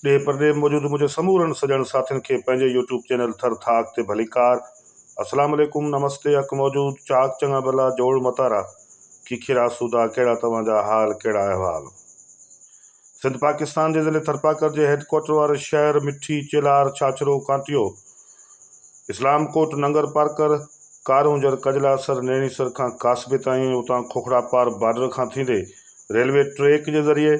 ڏيھ پرڏيھ موجود منهنجي سمورن سڄڻ ساٿين کي پنهنجي يوٽيوب چينل ٿر ٿاڪ تي ڀليڪار اسلام عليڪم نمستي حق موجود چاڪ چڱا ڀلا جوڙ متارا کيکير آسودا ڪهڙا توهان جا حال ڪهڙا احوال سنڌ پاڪستان جي ضلعي ٿرپاڪر جي هيڊ ڪوارٽر واري شهر مٺي چيلار ڇاڇرو ڪانٽيو اسلام ڪوٽ ننگر پارڪر ڪارونجر ڪجلاسر نيڻيسر کان ڪاسبي تائين اتان کوکڙا پار بارڊر کان ٿيندي ريلوي ٽريڪ جي ذريعي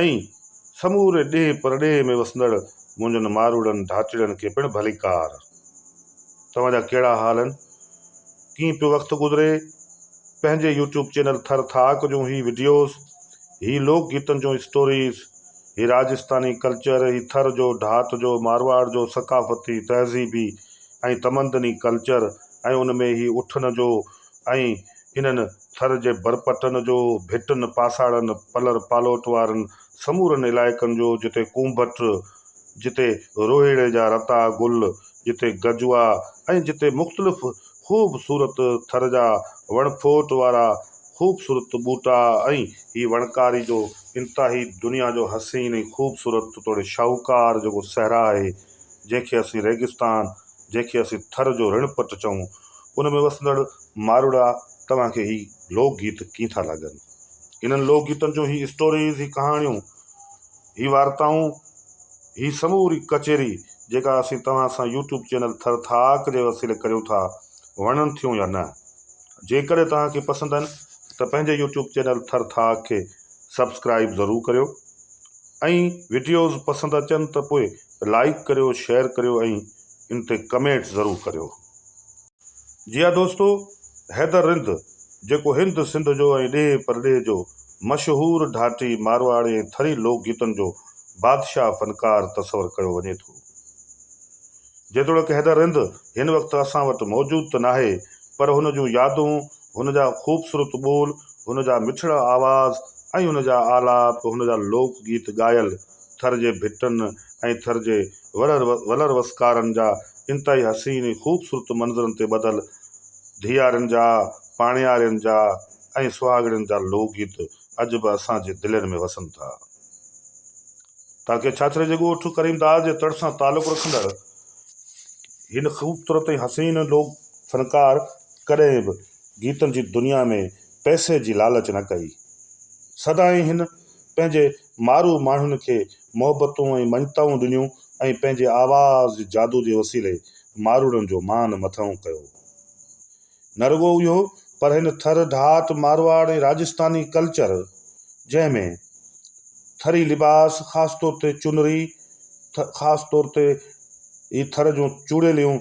۽ سموري ڏيهه پرڏيهه ۾ وسندڙ منهنجن ماروئڙن ڌاچڙن کي پڻ ڀليڪار. توهان جا ڪهڙا حال آهن؟ ڪيئن پيو وقت گذري؟ پنهنجي يوٽيوب چينل ٿر ٿاڪ جون هي وڊيوز، هي لوڪ گيتن جون اسٽوريز، هي راجسٿاني ڪلچر، هي ٿر جو، ڍات جو، مارواڙ جو ثقافتي، تهذيبي ۽ تمدني ڪلچر ۽ ان ۾ هي اٺن جو، ۽ انهن ٿر جي ڀرپٽن جو، ڀٽن، پاساڙن، پلر پالوٽ وارن سمورن علائقن جو، جتي ڪونڀٽ، جتي روهيڙي جا رتا گل، جتي گجوا ۽ جتي مختلف خوب صورت ٿر جا وڻ ڦوٽ وارا خوب صورت ٻوٽا ۽ هي وڻڪاري جو انتهائي دنيا جو حسين ۽ خوب صورت توڙي شاهوڪار جيڪو صحرا آهي، جنهن کي اسين ريگستان، جنهن کي اسين ٿر جو رڻ پٽ چئون، ان ۾ وسندڙ ماروئڙا توهان کي هي لوڪ گيت ڪيئن ٿا لڳن؟ انهن لوڪ گيتن جون هي اسٽوريز، هي ڪهاڻيون، هي وارتائون، هي سموري ڪچهري جيڪا اسين توهان سان يوٽيوب چينل ٿر ٿاڪ جي وسيلي ڪريون ٿا، وڻن ٿيون يا نه؟ جيڪڏهن توهان کي پسند آهن ته پنهنجي يوٽيوب چينل ٿر ٿاڪ کي سبسڪرائيب ضرور ڪريو. ۽ وڊيوز پسند اچن ته پوء لائيڪ ڪريو شيئر ڪريو ۽ ان تي ڪمينٽ ضرور ڪريو جي ها دوستو حيدر رند جيڪو هند سنڌ جو ۽ ڏيهه پرڏيهه جو مشهور ڍاٽي مارواڙي ۽ ٿري لوڪ گيتن جو بادشاهه فنڪار تصور ڪيو وڃي ٿو. جيتوڻيڪ حيدر رند هن وقت اسان وٽ موجود ته ناهي، پر هن جون يادون، هن جا خوبصورت ٻول، هن جا مٺڙا آواز ۽ هن جا آلاپ، هن جا لوڪ گيت ڳايل، ٿر جي ڀٽن ۽ ٿر جي ولر وسڪارن جا انتهائي حسين ۽ خوبصورت منظرن تي ٻڌل ڌيئارين جا، پاڻيارين جا ۽ سهاڳڻين جا لوڪ گيت اڄ به اسان جي دلين ۾ وسن ٿا. تاڪه ڇاڇري جي ڳوٺ ڪريمداد جي تڙ سان تعلق رکندڙ هن خوبصورت ۽ حسين لوڪ فنڪار ڪڏهن به گيتن جي دنيا ۾ پئسي جي لالچ نه ڪئي. سدائين هن پنهنجي مارو ماڻهن کي محبتون ۽ مڃتائون ڏنيون ۽ پنهنجي آواز جي جادو جي وسيلي ماروئڙن جو مان مٿئون ڪيو. نه رڳو اهو پر هن ٿر، ڌات، مارواڙ ۽ راجسٿاني ڪلچر جنهن ۾ ٿري لباس خاص طور تي چنري، خاص طور تي هي ٿر جون چوڙيليون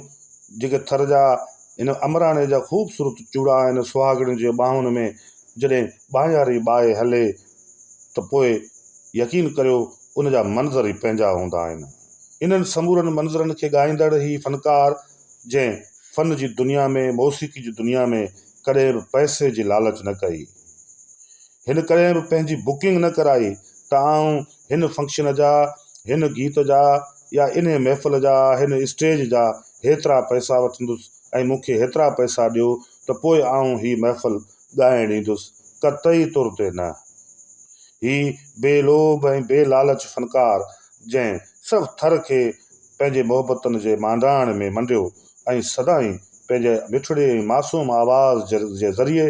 جيڪي ٿر جا هن امراڻي جا خوبصورت چوڙا آهن، سهاڳڻين جي ٻانهن ۾ جڏهن ٻانهياري ٻائي هلي ته پوء يقين ڪريو ان جا منظر ئي پنهنجا هوندا آهن. انهن سمورن منظرن کي ڳائيندڙ هي فنڪار. جنهن فن جي دنيا ۾، موسيقي جي دنيا ۾ ڪڏهن به پئسي جي لالچ نه ڪئي. هن ڪڏهن به پنهنجي بڪنگ نه ڪرائي ته آئون هن فنڪشن جا، هن گيت جا يا انهي محفل جا، هن اسٽيج جا هيترا پئسا وٺندس ۽ مون کي هيترا پئسا ڏيو ته پوء آئون هي محفل ڳائڻ ايندس، قطعي طور تي نه. هي بي لوڀ ۽ بي لالچ فنڪار جنهن سڀ ٿر کي پنهنجي محبتن جي مانڊاڻ ۾ منڊيو ۽ سدائين پنهنجي مٺڙي ۽ معصوم آواز جي ذريعي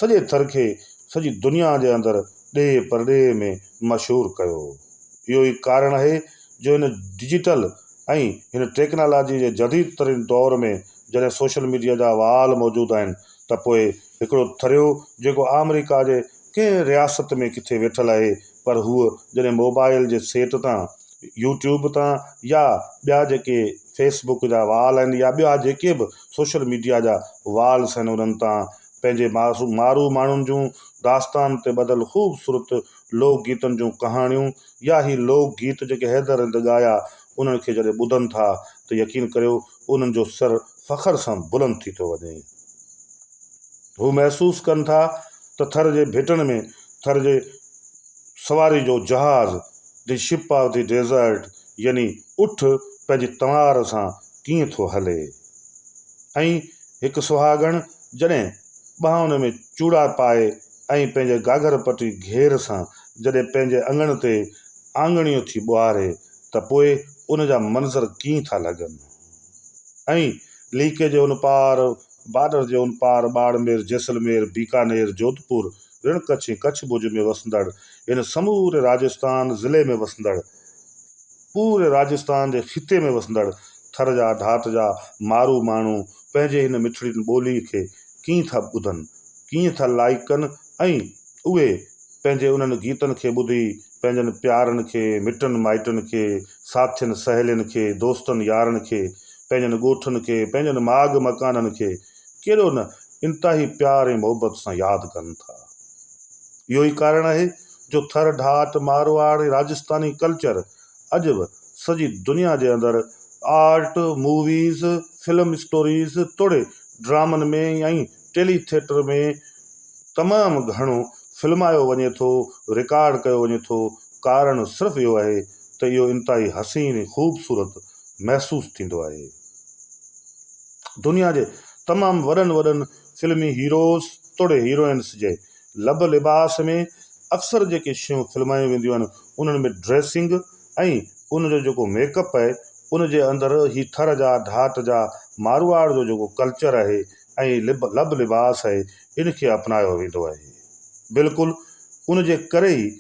سڄي ٿر کي سڄي دنيا جي اندر ڏيهه پرڏيهه ۾ مشهور ڪيو. اهو ئي ڪارڻ آهي جو هن ڊجيٽل ۽ هن ٽيڪنالاجي جي جديد ترين دور ۾ جڏهن سوشل ميڊيا جا وال موجود آهن ته پوء هڪڙو ٿريو جيڪو آمريڪا جي ڪنهن رياست ۾ ڪٿي ويٺل آهي پر هو جڏهن موبائيل جي سيٽ تان يو ٽيوب تان يا ٻيا جيڪي فيس بڪ جا وال آهن يا ٻيا جيڪي به سوشل ميڊيا جا والس آهن انهن تان پنهنجي مارو ماڻهن جون داستان تي ٻڌل خوبصورت لوڪ گيتن جون ڪهاڻيون يا هي لوڪ گيت جيڪي حيدر هند ڳايا انهن کي جڏهن ٻڌن ٿا ته يقين ڪريو انهن جو سر فخر سان بلند ٿي ٿو وڃي. هو محسوس ڪن ٿا ته ٿر جي ڀيٽن ۾ ٿر جي سواري جو جهاز، the ship of the desert, يعني اٺ پنهنجي تنوار سان ڪيئن ٿو هلي ۽ هڪ سهاڳڻ جڏهن ٻانهن ۾ چوڙا پائي ۽ پنهنجي گاگهر پٽي گهير سان جڏهن پنهنجي اڱڻ تي آڱڻيون ٿي ٻهاري ته پوء ان جا منظر ڪيئن ٿا لڳن ۽ ليڪي جي ان پار، بارڊر جي ان پار ٻاڙمير، جيسلمير، بيڪانير، جوڌپور، رڻ ڪڇ ۽ ڪڇ ڀڄ ۾ وسندڙ ان سموري راجستان ضلعي ۾ وسندڙ، پوري راجستان جي خطي ۾ وسندڙ ٿر جا ڌات جا مارو ماڻهو پنهنجي هن مٺڙي ٻولي کي ڪيئن ٿا ٻڌن، ڪيئن ٿا لائيڪ ڪن ۽ اهي پنهنجي انهن گيتن کي ٻڌي پنهنجن پيارن کي، مٽن مائٽن کي، ساٿين سهيلين کي، دوستن يارن کي، پنهنجن ڳوٺن کي، پنهنجن ماڳ مڪانن کي ڪيڏو نه انتهائي پيار ۽ محبت سان ياد ڪن ٿا. اهو ئي ڪارڻ آهي جو ٿر ڍاٽ، مارواڙ ۽ راجسٿاني ڪلچر اڄ به سڄي دنيا جي اندر آرٽ، موويز، فلم اسٽوريز توڙي ڊرامن ۾ ۽ ٽيلي ٿيٽر ۾ تمام گهڻو فلمايو وڃي ٿو، رڪارڊ ڪيو وڃي ٿو، ڪارڻ صرف اهو آهي ته اهو انتهائي حسين ۽ خوبصورت محسوس ٿيندو آهي. دنيا جي تمام وڏن وڏن فلمي هيروز توڙي هيروئنس جي لب لباس ۾ اڪثر جيڪي شيون فلمايون وينديون آهن انهن ۾ ڊريسنگ ۽ ان جو جيڪو ميڪ اپ آهي ان جي اندر هي ٿر جا ڌاٽ جا مارواڙ جو جيڪو ڪلچر آهي ۽ لب لب لباس آهي ان کي اپنايو ويندو آهي بلڪل ان جي ڪري ئي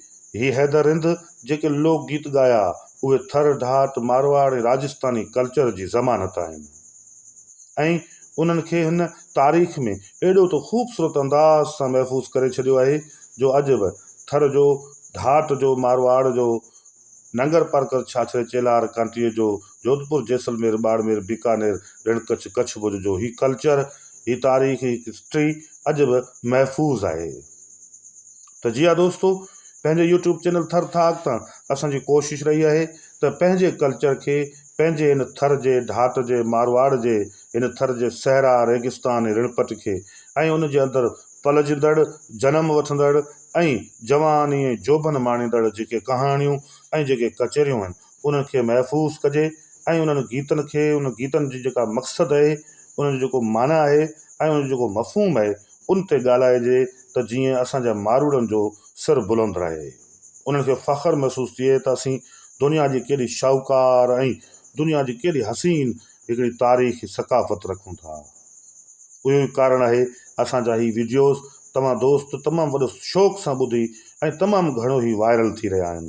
هي حيدر رند جيڪي لوڪ گيت ڳايا اهي ٿر ڍاٽ مارواڙ ۽ راجستاني ڪلچر جي ضمانت آهن ۽ انهن کي هن تاريخ ۾ ايڏو ته خوبصورت انداز سان محفوظ ڪري ڇڏيو آهي جو اڄ به ٿر جو ڍاٽ جو مارواڙ جو ننگر پارڪر ڇاڇري چيلهار ڪانٽيء جو جوڌپور جيسلمير ٻاڙمير بيڪانير رڻ ڪڇ ڪڇ ڀڄ جو هي ڪلچر هي تاريخ هي هسٽري اڄ به محفوظ آهي ته جي ها دوستو پنهنجي يوٽيوب چينل ٿر ٿاڪ تان اسان جي ڪوشش رهي آهي ته پنهنجي ڪلچر کي پنهنجي هن ٿر جي ڍاٽ جي مارواڙ جي هن ٿر جي صحرا ريگستان ۽ رڻپٽ کي ۽ ان جي اندر پلجندڙ، جنم وٺندڙ ۽ جواني ۽ جوڀن ماڻيندڙ جيڪي ڪهاڻيون ۽ جيڪي ڪچهريون آهن انهن کي محفوظ ڪجي ۽ انهن گيتن کي انهن گيتن جي جيڪا مقصد اهي انهن جو جيڪو معنيٰ اهي ۽ انهن جو جيڪو مفهوم اهي ان تي ڳالهائجي ته جيئن اسان جا ماروئڙن جو سر بلند رهي انهن کي فخر محسوس ٿئي ته اسين دنيا جي ڪيڏي شاهوڪار ۽ دنيا جي ڪيڏي حسين هڪڙي تاريخي ثقافت رکون ٿا. اهو ئي ڪارڻ آهي اسان جا هي وڊيوز توهان دوست تمام وڏو شوق سان ٻڌي ۽ تمام گهڻو هي وائرل ٿي رهيا آهن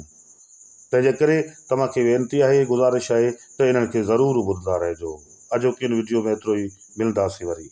تنهن جي ڪري توهان کي وينتي آهي گذارش آهي ته انهن کي ضرور ٻڌندا رهجو اڄوڪي ان وڊيو ۾ ايترو ئي ملنداسين وري.